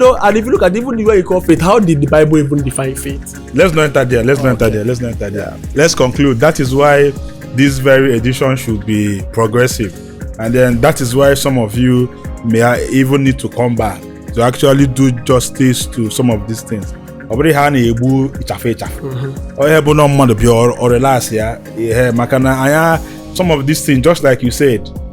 No, and if you look at even the way you call faith, how did the Bible even define faith? Let's not enter there. Let's not enter there. Let's not enter there. Let's conclude. That is why this very edition should be progressive. And then that is why some of you may even need to come back to actually do justice to some of these things. ọ bụrụ ihe a na-egbu ịchafụ ịchafụ onye bụ na mmadụ bịa ọ relax ya ihe maka na anya some of these things just like you said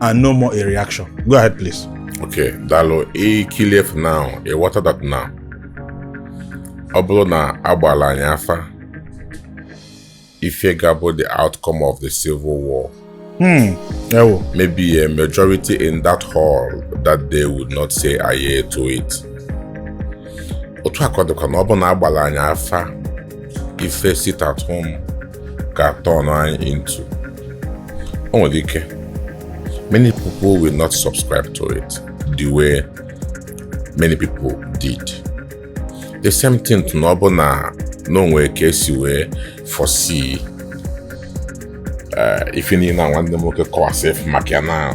and no more a reaction. Go ahead, please. Okay, daalụ, e kilief now, e water that now. Ọ bụrụ na a gbaalụ anyị afa, ife ga-abụ the outcome of the civil war. Hmm. Ewo. Maybe a majority in that hall that day would not say aye to it. Otu a ka ọ dịkwa na ọ bụrụ na a gbaalụ anyị afa ife sit at home ka turn anyị into o nwere ike many people will not subscribe to it the way many people did the same thing too na ọ bụ na na o nwe ka e si wee foresee eh, ife niile na nwanne m nwoke kọwasị maka ya na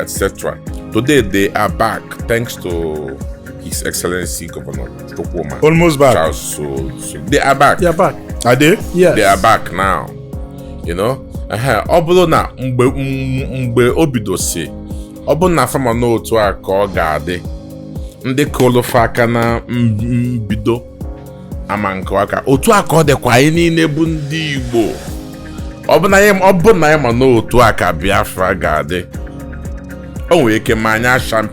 etc. Today they are back thanks to His Excellency Governor Chukwuma. Almost back. Charles so, so they are back. They are back. Are they? Yes. They are back now. You know? ọ bụrụ na mgbe mgbe o bidosi ọ bụrụ na fa ma na otu a ka ọ ga-adị ndị kụọlụ fa aka na mbido ama nke aka otu a ka ọ dịkwa anyị niile bụ ndị Igbo ọ bụ na anyị ma na otu a ka Biafra ga-adị o nwere ike ma anyị a champion